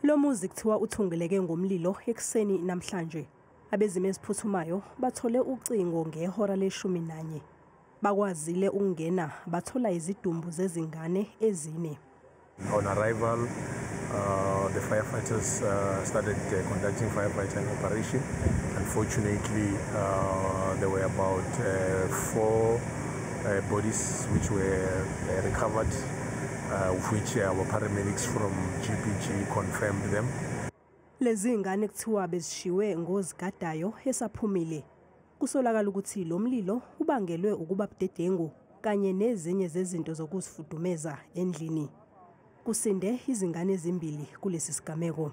Lo muzi kuthiwa uthungeleke ngomlilo ekuseni namhlanje. Abezimo eziphuthumayo bathole ucingo ngehora leshumi nanye. Bakwazile ukungena bathola izidumbu zezingane ezine. On arrival, uh, the firefighters uh, started uh, conducting firefighting operation. Unfortunately, uh, there were about uh, four uh, bodies which were uh, recovered Uh, of which uh, our paramedics from GPG confirmed them. Lezi ngane kuthiwa bezishiwe ngozigadayo esaphumile. Kusolakala ukuthi lo mlilo ubangelwe ukuba budedengu kanye nezinye zezinto zokuzifudumeza endlini. Kusinde izingane ezimbili kulesi sigameko.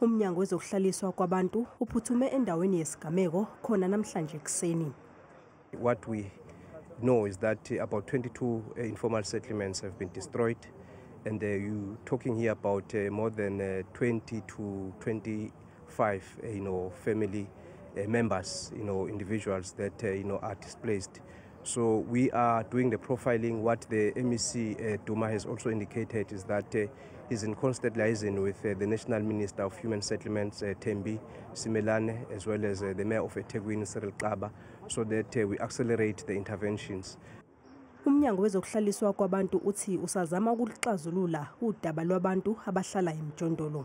UMnyango wezokuHlaliswa kwaBantu uphuthume endaweni yesigameko khona namhlanje ekuseni. What we know is that about 22 eh, informal settlements have been destroyed and uh, you talking here about uh, more than uh, 20 to 25 uh, you know family uh, members you know individuals that uh, you know are displaced So we are doing the profiling. What the MEC uh, Duma has also indicated is that uh, he's in constant liaison with uh, the National Minister of Human Settlements, uh, Tembi Simelane, as well as uh, the Mayor of Eteguin, Cyril Kaba, so that uh, we accelerate the interventions. umnyango wezokuhlaliswa kwabantu uthi usazama ukuxazulula udaba lwabantu abahlala emjondolo